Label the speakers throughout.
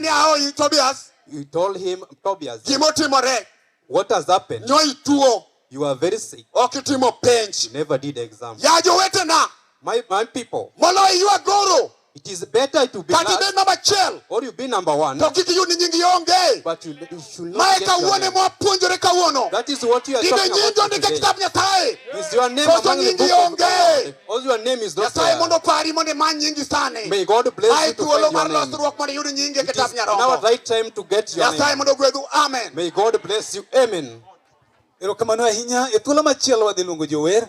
Speaker 1: ni ahoyi Tobias. You told him, Tobias, gimo timore. What has happened? Nyo ituo. You are very sick. Ok itimo penj. You never did exam. Ya jowetena. My, my people. Moloyo iwa goro. It is better to be last. Kata ibed number achiel. Or you be number one. To kik iyud ni nyingi onge. But you maeka wuone mwapuonjore kawuono ibenyinjo ndike kitab nyasaye koso nyingi onge nyasaye mondo opari mondo imany nyingi sani ae thuolo mar losruok mondo iyud nyingi e kitab nyarombo nyasaye mondo ogwedhu amen erokamano ahinya e thuolo machielo wadhi luongo jower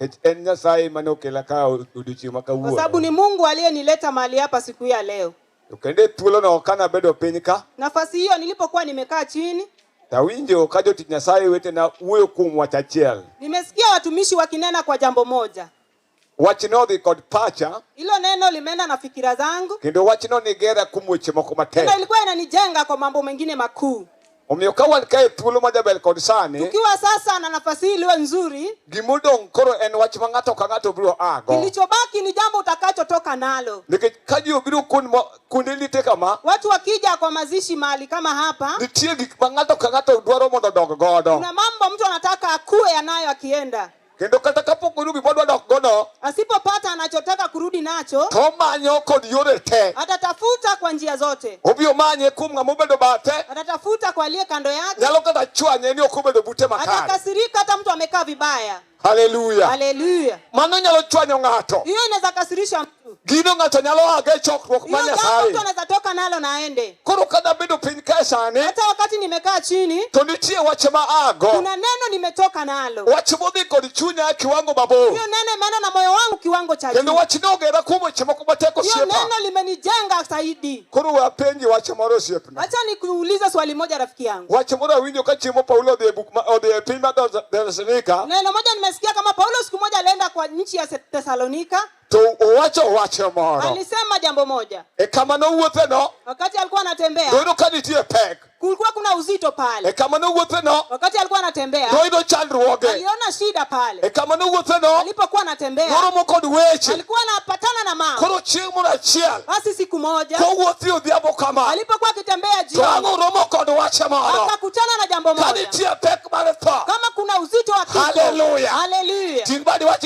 Speaker 1: Nikech en Nyasaye mane okela ka odiochieng' ma kawuono. Kwa sababu ni Mungu aliyenileta mahali hapa siku ya leo. To kendo e thuolono kana bedo piny ka. Nafasi hiyo nilipokuwa nimekaa chini. Tawinjo ka jotich Nyasaye wetena wuoyo kuom wach achiel. Nimesikia watumishi wakinena kwa jambo moja. Wachno odhi kod pacha. Hilo neno limeenda na fikira zangu. Kendo wachno nigera kuom weche moko matek. Tena ilikuwa inanijenga kwa mambo mengine makuu. Omiyo ka wan kae thuolo ma jaber kod sani, Tukiwa sasa na nafasi hii iliyo nzuri, gimodong' koro en wach ma ng'ato ka ng'ato biro ago. kilichobaki ni jambo utakachotoka nalo. Nikech ka ji obiro kuond mo- kuonde lite kama, Watu wakija kwa mazishi mahali kama hapa, nitie gik ma ng'ato ka ng'ato dwaro mondo odog godo. kuna mambo mtu anataka akuwe yanayo akienda. kendo kata kapok oyudo gima odwa dok godo asipopata anachotaka kurudi nacho to omanyo kod yore te atatafuta kwa njia zote obiro manye kuom ng'ama obedo bathe atatafuta kwa aliye kando yake nyalo kata chwanye ni ok obedo bute makare atakasirika hata mtu amekaa vibaya haleluya haleluya mano nyalo chwanyo ng'ato hiyo inaweza kasirisha Gino ng'ato nyalo aga e chokruok ma Nyasaye. Mtu anaweza toka nalo na aende. Koro kada bedo piny kae sani. Hata wakati nimekaa chini. To nitie wach ma ago. Kuna neno nimetoka nalo. Wach modhi kod chunya kiwango mabor. Hiyo neno maana na moyo wangu kiwango cha juu. Kendo wach ni ogera kuom weche moko mateko osiepa. Hiyo neno limenijenga zaidi. Koro we apenji wach moro osiepna. Acha nikuulize swali moja rafiki yangu. Wach moro awinjo ka chiemo Paulo odhi e buk ma odhi e piny ma Thessalonika. Neno moja nimesikia kama Paulo siku moja alienda kwa nchi ya Thessalonika. To owacho wach moro. Alisema jambo moja. E kama nowuothe no. Wakati alikuwa anatembea. Doyudo ka nitie pek. Kulikuwa kuna uzito pale. E kama nowuothe no. Wakati alikuwa anatembea. Doyudo chandruoge. Aliona shida pale. E kama nowuothe no. Alipokuwa anatembea. Noromo kod weche. Alikuwa anapatana na mama. Koro chieng' moro achiel. Basi siku moja. Kowuothi odhiambo kama. Alipokuwa akitembea jioni. To ang'o romo kod wach moro. Akakutana na jambo moja. Ka nitie pek mar tho. Kama kuna uzito wa kifo. Haleluya. Haleluya.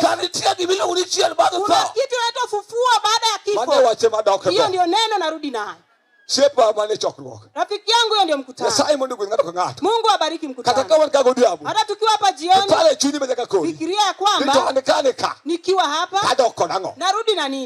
Speaker 1: Ka nitie gima iluongo ni chier bang' tho. Kuna kitu inaitwa ufufuo baada ya kifo. Mane wache madok Hiyo ndio neno narudi nayo. Siepa mane chokruok. Rafiki yangu hiyo ndio mkutano. Nyasaye mondo ogwedh ng'ato ka ng'ato. Mungu abariki mkutano. Kata kama nikago diabo. Hata tukiwa hapa jioni. Pale chunyi mejaka kodi. Fikiria ya kwamba. Nito anikane ka. Nikiwa hapa. Kadoko nang'o. Narudi na nini?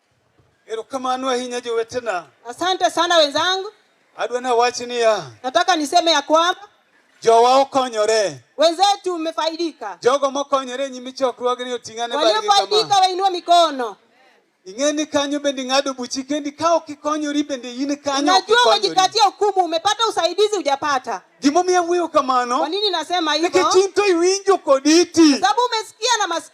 Speaker 1: Erokamano ahinya jowetena. Asante sana wenzangu. Adwa na wach niya. Nataka niseme ya kwamba jowa okonyore. Wenzetu mmefaidika. Jogo mokonyore nyimi chokruogni oting'ane bali kama. Waliofaidika wainua mikono. Ing'eni kanyo bende ng'ado buchi kendi ka ok ikonyori bende in kanyo. Najua umejikatia hukumu, umepata usaidizi hujapata. Gimomiyo wuoyo kamano? Kwa nini nasema hivyo? Nikech in to iwinjo kod iti. Sababu umesikia na masikio.